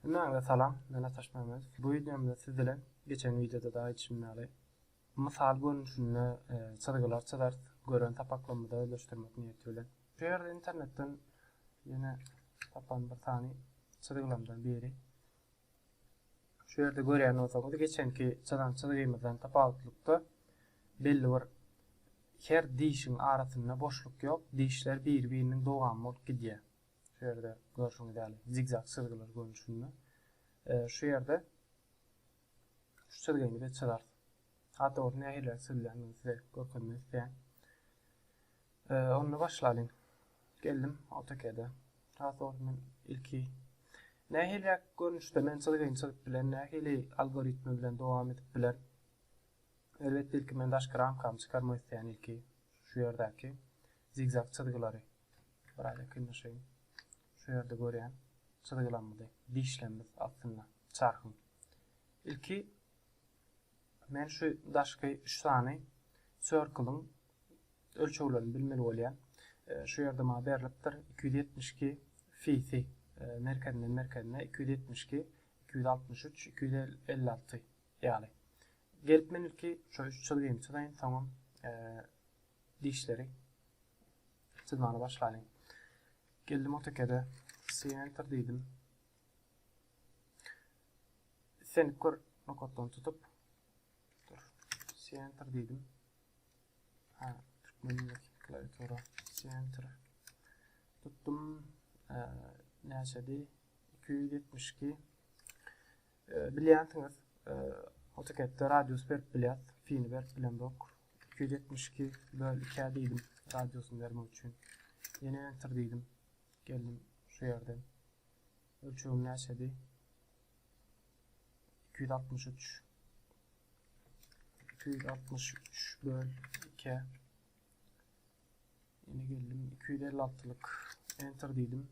Hemmäňize salam, men Ataş Mämedow. Bu wideomda siz bilen geçen wideoda-da aýdyşym ýaly, mysal görnüşinde e, çyzgylar çyzarys, gören sapaklarymyza özleşdirmek niýeti bilen. Şu ýerde internetden ýene tapan bir sany çyzgylarymdan biri. Şu ýerde görýän bolsaňyz, geçenki çyzan çyzgymyzdan tapawutlykda belli bir her dişiň arasynda boşluk ýok, dişler biri-biriniň dowamy bolup gidýär. Şu ýerde görşüňiz ýaly zigzag çyzgylar görnüşinde. Şu ýerde şu çyzgyny biz çyzarys. Hat dogrusy nähiliräk çyzylýandygyny size görkezmek isleýän. Onda başlalyň. Geldim AutoCAD-e. Has dogrusy men ilki nähili görnüşde men çyzgyny çyzyp bilen, nähili algoritmi bilen dowam edip biler. Elbetde ilki men daşky ramkamy çykarmak isleýän ilki şu ýerdäki zigzag çyzgylary. Biraz ýakynlaşaýyn. Şu ýerde görýän çyzgylarymyzy dişlemmiz astynda çarhyň. Ilki Men şu daşky üç sany circle-yň ölçeglerini bilmeli bolýan. Şu ýerde maňa berlipdir, iki ýüz ýetmiş iki fisi merkezinden merkezine iki ýüz ýetmiş iki, iki ýüz altmyş üç, iki ýüz elli alty ýaly. Gelip men ilki şu üç çyzgymy çyzaýyn, soňam dişleri çyzmaga başlaýyn. Geldim AutoCAD-e, Center diýdim. Islendik bir nokatdan tutup center dedim. Ha, türkmenlik klawiatura center. Tuttum. E, Näçedi? 272. E, Bilýänsiňiz, e, AutoCAD-de radius berip bilýär, fini berip bilemok. 272 böl 2 dedim radiusyny bermek üçin. Ýene enter dedim. Geldim şu ýerden. Ölçegim näçedi? Iki ýüz altmyş üç. Iki ýüz altmyş üç böl iki. Ýene geldim. Iki ýüz elli altylyk. Enter diýdim.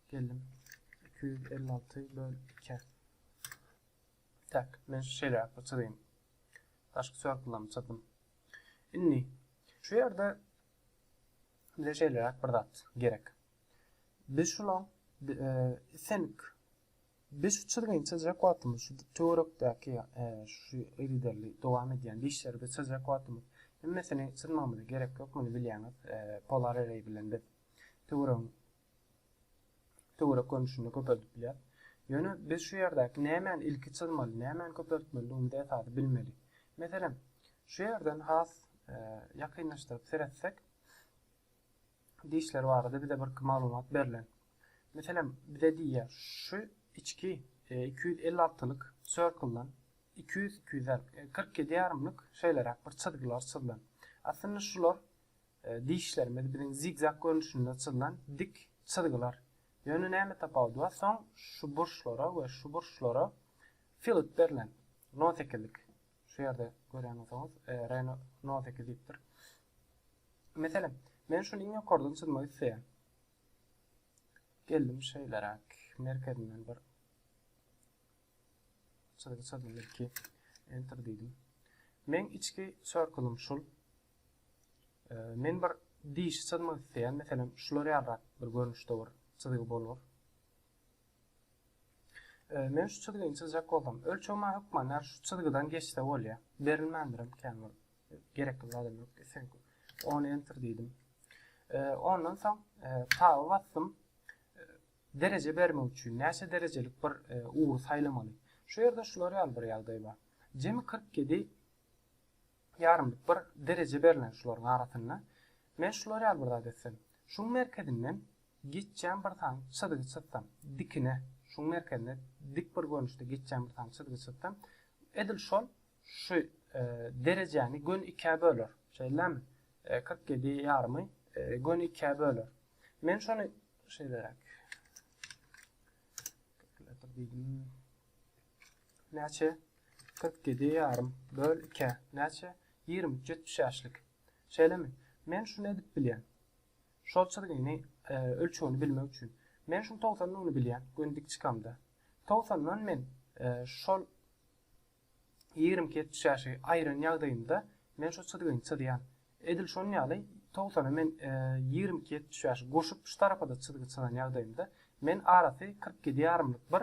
Geldim. Iki ýüz elli alty böl iki. Tak, men şeýle çyzyň. Daşky sörkülemi çyzdym. Indi şu ýerde bize şeýleräk bir zat gerek. Biz şulaň think biz şu çyzgynça çyzjak wagtymyz şu töwerekdäki şu yzyderli dowam edýän dişleri biz çyzjak wagtymyz hemmesini çyzmagymyza gerek ýok muny bilýäňiz polar array bilen biz töweregiň töwerek görnüşini köpeldip bilýär. Ýöne biz şu ýerdäki nämäni ilki çyzmaly, nämäni köpeltmelidigimizi esasy bilmeli. Meselem, şu ýerden has e, ýakynlaşdyryp seretsek, dişleri barada bize birki maglumat berlen. Meselem, bize diýýär, şu içki iki ýüz elli altylyk circle-dan iki ýüz, iki ýüz kyrk ýedi ýarymlyk şeýleräk bir çyzgylar çyzlan. Aslynda şular dişlerimiz biziň zigzag görnüşinde çyzlan dik çyzgylar. Ýöne näme tapawudy bar? Soň şu burçlara we şu burçlara fillet berlen, nol sekizlik Şu ýerde görýän bolsaňyz, Reno No sekiz diýipdir. Meselem, men şuny iň ýokardan çyzmak isleýän. Geldim şeýleräk, merkezinden bir çyzgy çyzdym ilki. Enter diýdim. Men içki circle-ym şul. Men bir dişi çyzmak isleýän, meselem, şular ýalyrak bir görnüşde bir çyzgy bolar. Men şu çyzgyny çyzjak bolsam, ölçegime hökman her şu çyzgydan geçse bolýar. Berilmändirem kän bolup. Gerekli zadam ýok. Islendik. Ony enter diýdim. Ondan soň taba basdym. Dereje bermek üçin näçe derejelik bir ugry saýlamaly. Şu ýerde şular ýaly bir ýagdaý bar. Jemi 47 Ýarymlyk bir dereje berlen şularyň arasynda. Men şular ýaly bir zat etsem. Şuň merkezinden geçýän bir sany çyzgy çyzsam, dikine, şuň merkezine dik bir görnüşde geçýän bir sany çyzgy çyzsam, edil şol şu derejäni göni ikä böler. Şeýdilärmi? Kyrk ýedi ýarymy göni ikä böler. Men şony şeýleräk. Kalkulator diýdim. Näçe? Kyrk ýedi ýarym böl ikä näçe? Ýigrimi üç ýetmişäşlik. Şeýlemi? Men şuny edip bilýän. Şol çyzgyny, ölçegini bilmek üçin. Men şuň togsan nuny bilýän, göni dik çykamda. Togsandan men şol ýigrimi iki ýetmişäşigi aýyran ýagdaýymda, men şu çyzgyny çyzýan. Edil şon ýaly, togsana men ýigrimi iki ýetmişäşi goşup şu tarapa-da çyzgy çyzan ýagdaýymda, men arasy kyrk ýedi ýarymlyk bir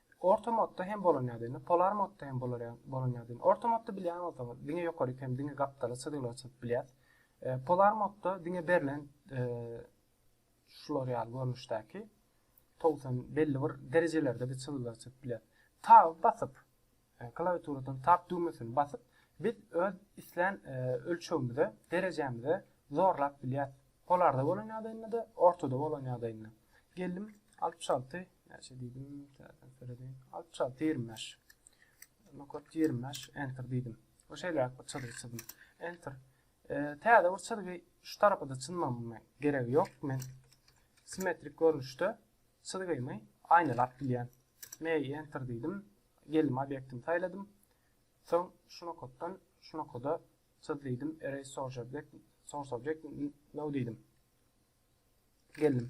Orta modda hem bolan ýaly indi polar modda hem bolar ýaly bolan ýaly indi orta modda bilýän bolsaňyz diňe ýokaryk hem diňe gapdala çyzgylar çyzyp bilýäs polar modda diňe berlen şular ýaly görnüşdäki togsan belli bir derejelerde biz çyzgylar çyzyp bilýäs tab basyp klawiaturadan tab düwmesini basyp biz öz islän ölçegimize derejämize zorlap bilýäs polarda bolan ýagdaýynda-da ortada bolan ýagdaýynda geldim 60 alty näçe diýdim täzeden söredeýin 60 alty ýigrimi bäş nokat ýigrimi bäş enter diýdim we şeýleräk bir çyzgy çyzdym enter täze bir çyzgy şu tarapa da çyzmama geregi ýok men simmetrik görnüşde çyzgymy aýnalap bilýän me enter diýdim geldim obýektimi saýladym soň şu nokatdan şu nokada çyz diýdim erase source object source object no diýdim Geldim.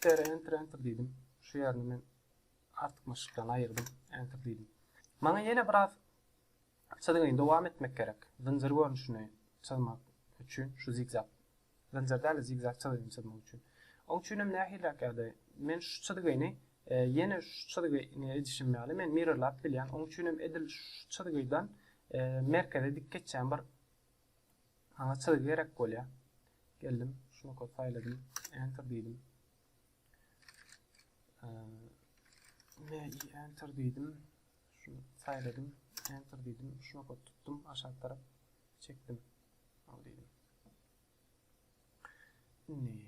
Sere enter enter diýdim. Şu ýerini men artykmaçlykdan aýyrdym. Enter diýdim. Maňa ýene biraz çyzgyny dowam etmek gerek. Zynjyr görnüşini çyzmak üçin şu zigzag zynjyr däl-de zigzag çyzgyny çyzmak üçin. Oň üçin hem nähiliräk ýagdaý? Men şu çyzgyny e, ýene şu çyzgyny edişim ýaly men mirrorlap bilýän. Oň üçin hem edil şu çyzgydan e, merkeze dik geçýän bir Maňa çyzy gerek bolýar. Geldim, şuny kod saýladym, enter diýdim. Ne enter diýdim. Şuny saýladym, enter diýdim. Şuny kod tutdum, aşak tarap çekdim. Al diýdim. Indi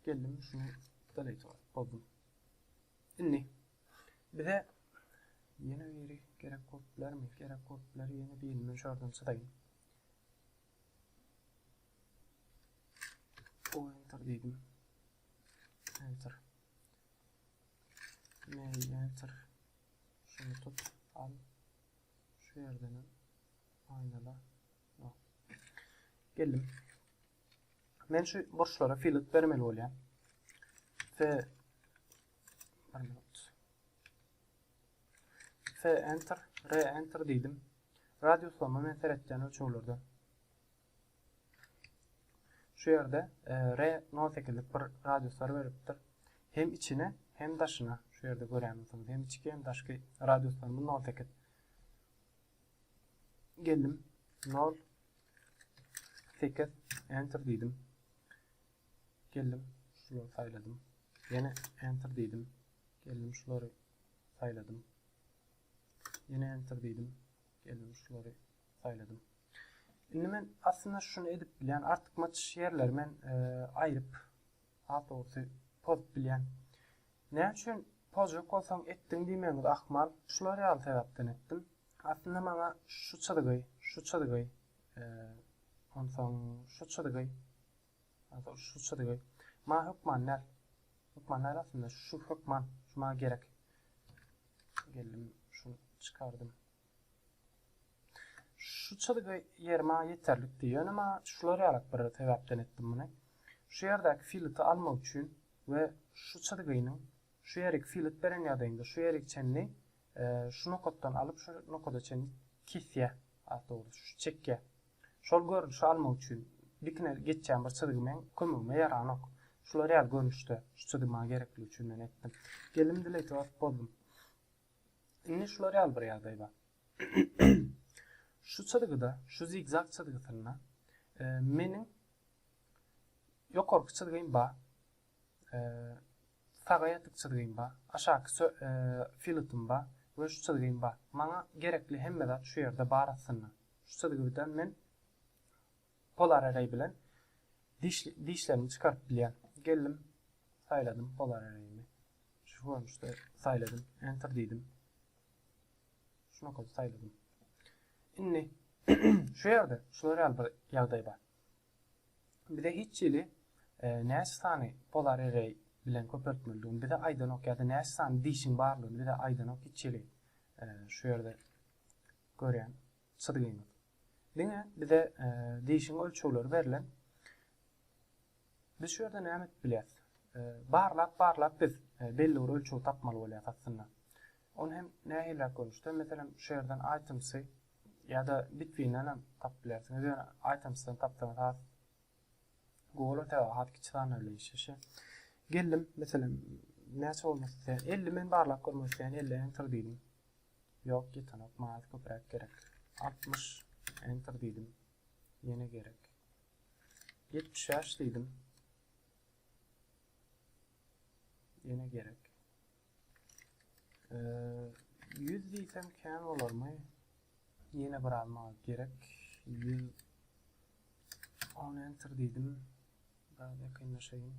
Geldim şunu delete boldum. Indi bize ýene biri gerek bolup bilermi? Gerek bolup biler ýene birini men şardan çyzaýyn. O enter dedim. Enter. Ne enter. Şunu tut al. Şu yerden aynala. Yok. Geldim. Men şu burçlara filet bermeli bolýar. Fe bir minut. Fe enter, re enter diýdim. Radiuslama men seretýän ölçeglerde. Şu ýerde e, re 08'lik bir radiuslar beripdir. Hem içine, hem daşyna. Şu ýerde görýänsiňiz, hem içki, hem daşky radiuslarymyz 08. Geldim. 0 8 enter diýdim. Geldim, şulary saýladym. Ýene enter diýdim. Geldim, şulary saýladym. Ýene enter diýdim. Geldim, şulary saýladym. Indi men aslynda şuny edip bilýän, artykmaç ýerleri men e, aýryp Asosy poz bilýän. Näme üçin pozjak bolsaň etdiň diýmegiňiz ahmal. Şular ýaly sebäpden etdim. Aslynda maňa şu çyzgy, şu çyzgy, onsoň şu çyzgy, onsoň şu çyzgy maňa hökman däl. Hökman däl aslynda şu hökman, şu maňa gerek. Geldim şuny çykardym. Şu çyzgy ýeri maňa ýeterlik diýýär. Ýöne maňa şular ýaly bir sebäpden etdim muny. Şu ýerdäki filiti almak üçin we şu çyzgynyň şu ýerik filit beren ýagdaýynda şu ýerik çenli şu nokatdan alyp şu nokada çenli kesýär. Has dogrusy şu çekýär. Şol görnüşi almak üçin dikine geçýän bir çyzgy meň kömegime ýaranok. Şular ýaly görnüşde şu çyzgy maňa gerekligi üçin men etdim. Geldim delete basyp bozdum. Indi şular ýaly bir ýagdaý bar. şu çyzgyda, şu zigzag çyzgysynda e, meniň ýokarky çyzgym bar. E, saga ýatyk çyzgym bar. Aşaky e, filetim bar we şu çyzgym bar. Maňa gerekli hemme zat şu ýerde bar aslynda. Şu çyzgydan men Polar Array bilen dişlerimi çykaryp bilýän. Geldim, saýladym Polar Array'imi. Şu görnüşde saýladym. Enter diýdim. Şuna köp saýladym. Indi şu ýerde şular ýaly bir ýagdaý bar. Bize hiç ýyly e, näçe sany Polar Array bilen köpeltmelidigini bize aýdanok ýa-da näçe sany dişiň barlygyny bize aýdanok hiç ýyly. E, şu ýerde görýän. Çyzgyňyz. Diňe bize dişiň ölçegleri berlen. Biz şu ýerde näme edip bilýäs? Barlap, barlap biz belli bir ölçegi tapmaly bolýar aslynda. Ony hem nähiliräk görnüşde, meselem, şu ýerden items-y ýa-da between-den hem tapyp bilersiňiz. Ýöne items-den tapsaňyz has gowy sebäbi has kiçi sanlar bilen işleşýär. Geldim, meselem, näçe bolmak isleýän? 50 men barlap görmek isleýän, 50 enter diýdim. Ýok ýetenok maňa köpräk gerek. Altmyş, enter diýdim. Ýene gerek. Ýetmiş bäş diýdim. Ýene gerek. Ýüz diýsem kän bolarmy? Ýene bir az maňa gerek. Ýüz on enter diýdim. Biraz ýakynlaşaýyn.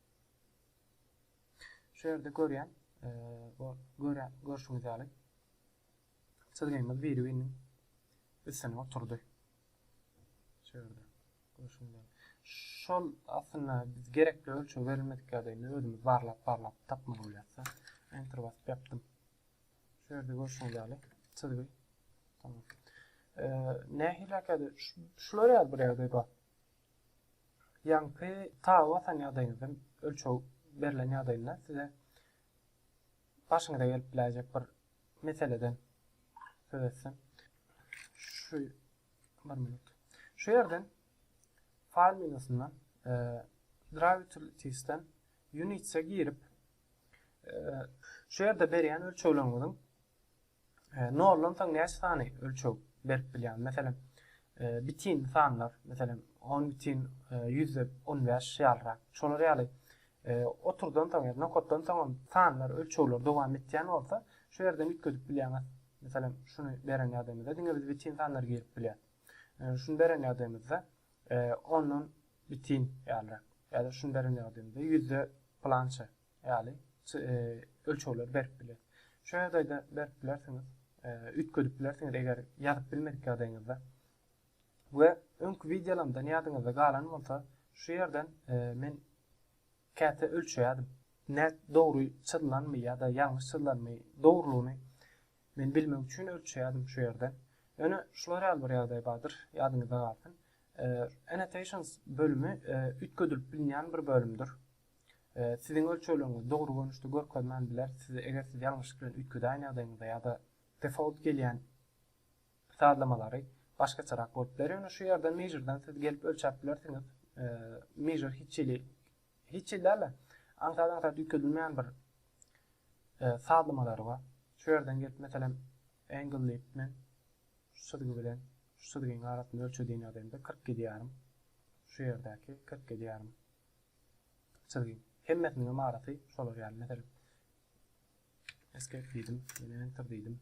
Şu ýerde görýän bu görşüňiz ýaly çyzgymyz biri-biriniň üstüne oturdy. Şu ýerde görşüňiz ýaly. Şol aslynda biz gerekli ölçeg berilmedik ýagdaýynda özümiz barlap barlap tapmaly bolýarsa enter basyp ýapdym. Şu ýerde görşüňiz ýaly çyzgy tamam. Nähili hakady şular ýaly bir ýagdaý bar. Ýaňky saga basan ýagdaýyňyzdan ölçeg berlen ýagdaýynda size başyňyza gelip biläýjek bir meseleden söz etsem. Şu bir minut. Şu ýerden file menusyndan e, Drive Utilities'den Units'e girip e, şu ýerde berýän ölçegleriňiziň Noldan soň näçe sany ölçeg berip bilýäň? Meselem, bitin sanlar, meselem, on bitin ýüzde on bäş ýalyrak. Şolar ýaly oturdan soň, ýa-da nokatdan soň hem sanlar, ölçegler dowam etýän bolsa, şu ýerden üýtgedip bilýäňiz. Meselem, şuny beren ýagdaýymyzda diňe biz bitin sanlary girip bilýäs. Şuny beren ýagdaýymyzda ondan bitin ýalyrak. Ýa-da şuny beren ýagdaýymyzda ýüzde pylança ýaly ölçegleri berip biler. Şu ýagdaýda berip bilersiňiz, üýtgedip bilersiňiz eger ýazyp bilmedik ýagdaýyňyzda. We öňki wideolarymdan ýadyňyzda galan bolsa, şu ýerden men käte ölçeýärdim. Nä dogry çyzlanmy ýa-da ýalňyş çyzlanmy, dogrulygyny men bilmek üçin ölçeýärdim şu ýerden. Ýöne şular ýaly bir ýagdaý bardyr, ýadyňyzda galsyn. Annotations bölümi üýtgedilip bilinýän bir bölümdir. Siziň ölçegleriňizi dogry görnüşde görkezmän biler. Size eger siz ýalňyşlyk bilen üýtgedýän ýagdaýyňyzda ýa-da default gelýän sazlamalary başgaçarak bolup biler. Ýöne şu ýerden measure-dan siz gelip ölçäp bilersiňiz. Measure hiç hili hiç hili däl-de aňsat-aňsat üýtgedilmeýän bir sazlamalary bar. Şu ýerden gelip meselem angle diýip men şu çyzgy bilen şu çyzgyň arasyny ölçe diýen ýagdaýymda 47 ýarym şu ýerdäki 47 ýarym Çyzgyn. Hemmesiniňem arasy şolar ýaly. Meselem, Escape diýdim, ýene Enter diýdim.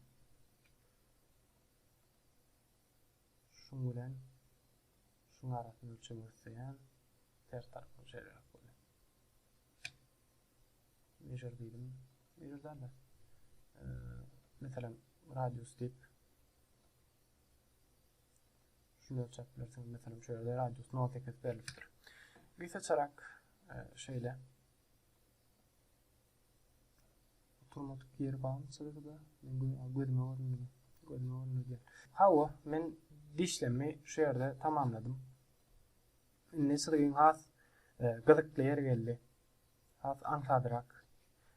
Şuň bilen şuň arasyny ölçemek isleýän ters tarapyny şeýleräk bolýar. Measure diýdim. Measure-dan da. Meselem, radius diýip Şunu ölçäp bilersiňiz. Meselem, şöyle radius 0,8 berilipdir. Bir seçerek e, şöyle oturmadyk yer barmı çyzgıda? Men gözüme görünmedi. Gözüme görünmedi. Hawa, men dişlemi şu yerde tamamladım. Indi çyzgyn has e, gyzykly yer geldi. Has aňsadrak.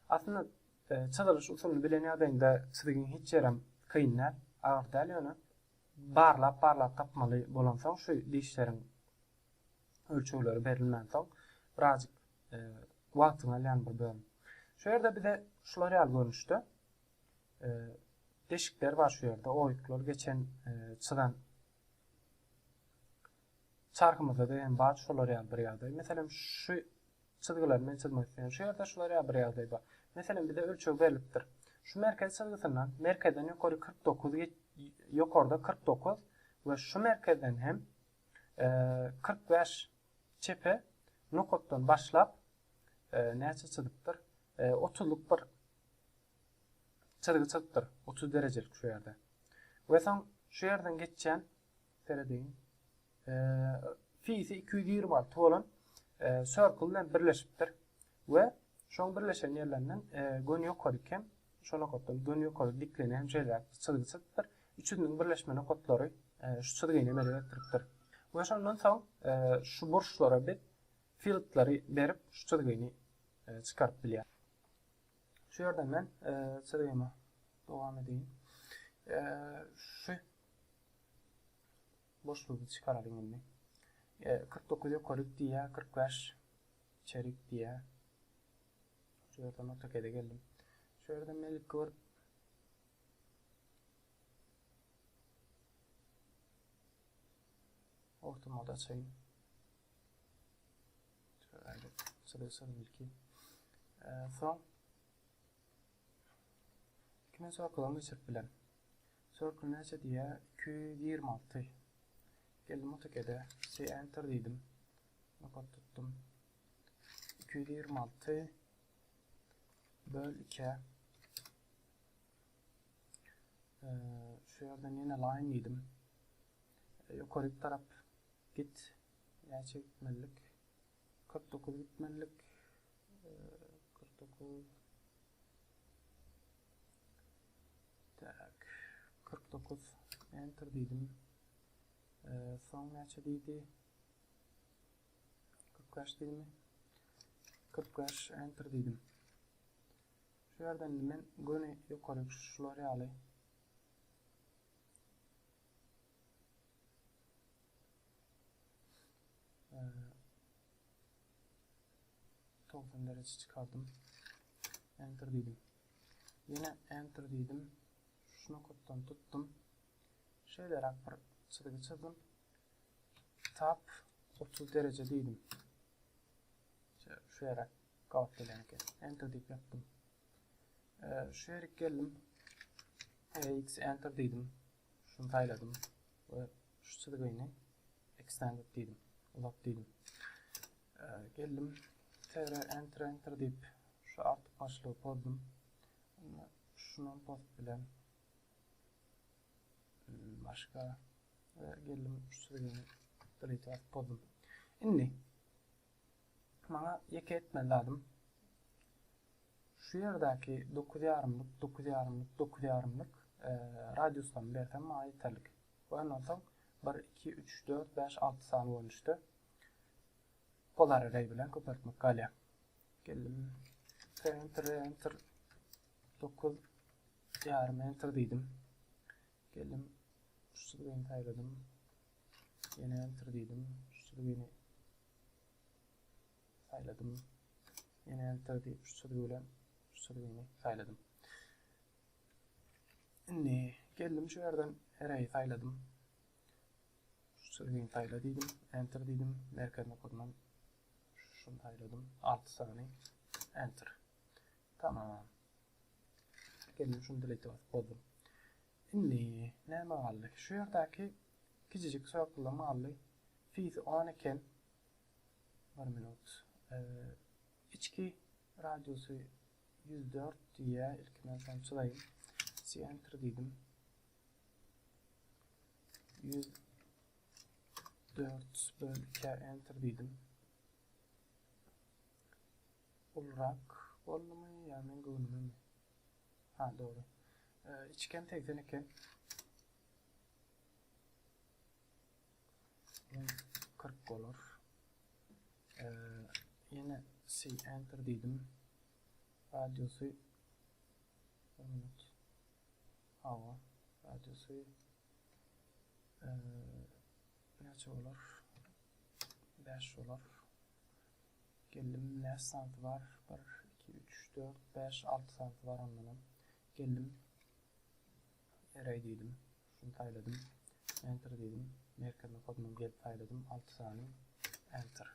Aslında Çyzylyş usulyny bilen ýagdaýyňda çyzygyň hiç ýerem kyn däl, agyr däl ýöne barlap-barlap tapmaly bolansoň şu dişleriň ölçegleri berilmänsoň birazjyk wagtyňy alýan bir bölüm. Şu ýerde bize şular ýaly görnüşde deşikler bar şu ýerde oýuklar geçen çyzan Çarhymyzda-da hem bar şolar ýaly bir ýagdaý. Meselem, şu çyzgylary men çyzmak isleýän. Şu ýerde şular ýaly bir ýagdaý bar. Meselem, bize ölçeg berlipdir. Şu merkez çyzgysyndan merkezden ýokary kyrk dokuz ýokarda kyrk dokuz we şu merkezden hem kyrk bäş çepe nokatdan başlap näçe çyzypdyr? Otuzlyk bir çyzgy çyzypdyr. Otuz derejelik şu ýerde. We soň şu ýerden geçýän Serediň. Fi-si iki ýüz ýigrimi alty bolan circle bilen birleşipdir we şoň birleşen ýerlerinden göni ýokaryk hem şo nokatdan göni ýokaryk diklini hem şeýle çyzgy çyzypdyr. Üçüsiniň birleşme nokatlary şu çyzgyny emele getiripdir. We şondan soň şu burçlara biz fieldleri berip şu çyzgyny çykaryp bilýäris. Şu ýerden men çyzgymy dowam edeýin. Şu Boşlugy çykaralyň indi. Kyrk dokuz ýokaryk diýýär, kyrk bäş içerik diýýär. Şu ýerden AutoCAD-e geldim. Şu ýerden men ilki bir Ortamod açayım. Şöyle sırasını ilki. Ee, son Iki müň sorkudan geçirip bilen. Circle näçe diýýär? Iki ýüz ýigrimi alty. Geldim AutoCAD-e, Say Enter diýdim. Nokat tutdum. Iki ýüz ýigrimi alty böl ikä. Şu ýerden ýene line diýdim. Ýokaryk tarap git. Näçe gitmelilik? 49 gitmelilik. Kyrkdokuz. Tak. Kyrkdokuz. Enter diýdim. Soň näçe diýdi? Kyrk bäş diýdimi? Kyrk bäş. Enter diýdim. Şu ýerden men göni ýokary şular ýaly Togsan derejä çykardym. Enter diýdim. Ýene Enter diýdim. Şu nokatdan tutdum. Şeýleräk bir çyzgy çyzdym. Tap 30 dereje diýdim. Şu ýere gabat gelen eken. Enter diýip ýapdym. Şu ýere geldim. X Enter diýdim. Şuny saýladym we şu çyzgyny extend diýdim. Uzat diýdim. Geldim. Tere enter enter diýip şu artyk başlygy pozdum. Onda şuny post bilen başga geldim şu çyzgyny delete edip pozdum. Indi Maňa ýeke etmeli zadym, şu ýerdäki dokuz ýarymlyk, dokuz ýarymlyk, dokuz ýarymlyk radiuslaryny bersem maňa ýeterlik. We ondan soň bir, iki, üç, dört, bäş, alty sany görnüşde polar array bilen köpeltmek galýar. Geldim. Enter, enter, dokuz ýarym enter diýdim. Geldim. Şu çyzgyny saýladym. Ýene enter diýdim. Şu çyzgyny saýladym. Ýene enter diýip şu çyzgy bilen şu çyzgyny saýladym. Indi geldim şu ýerden ereýi saýladym. Şu çyzgyny saýla diýdim. Enter diýdim. Merkez nokadyndan şuny saýladym. 6 sany enter. Tamam. Gelin şuny delete basyp bozdum. Indi näme galdy? Şu ýerdäki kijijik circle-ym galdy. Fisi on eken. Bir minut. Içki radiusy ýüz dört diýýär. Ilki men şony çyzaýyn. Center diýdim. Ýüz dört böl ikä enter diýdim. Ulurak boldumy ýa meň göwnümemi? Ha dogry. Içgem segsen eken. Ýene kyrk bolar. Ýene C enter diýdim. Radiusy bir minut. Hawa, radiusy näçe bolar? 5 bolar. Geldim näçe santy bar bir iki üç dört bäş alty santy bar ondanam geldim ereý diýdim şuny saýladym enter diýdim merkezine kodunam gelip saýladym alty sany enter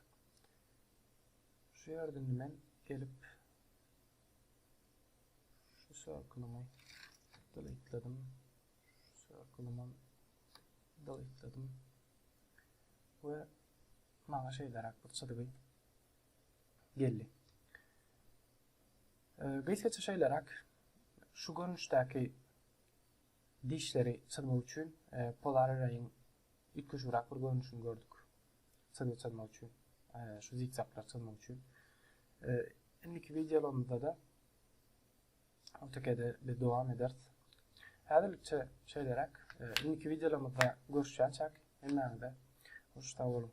şu ýerde indi men gelip şu circlemy delete'ledim şu circlymam delete'ledim we Maňa şeýleräk bir çyzgy geldi. Gysgaça şeýleräk, şu görnüşdäki dişleri çyzmak üçin polar arraýyň üýtgeşigräk bir görnüşini gördük. Çyzgy çyzmak üçin, şu zigzaglary çyzmak üçin. Indiki wideolarymyzda-da Ol tekede biz dowam ederis. Häzirlikçe şeýleräk. Indiki wideolarymyzda görüşýänçäk. Hemmäňize hoş sag boluň.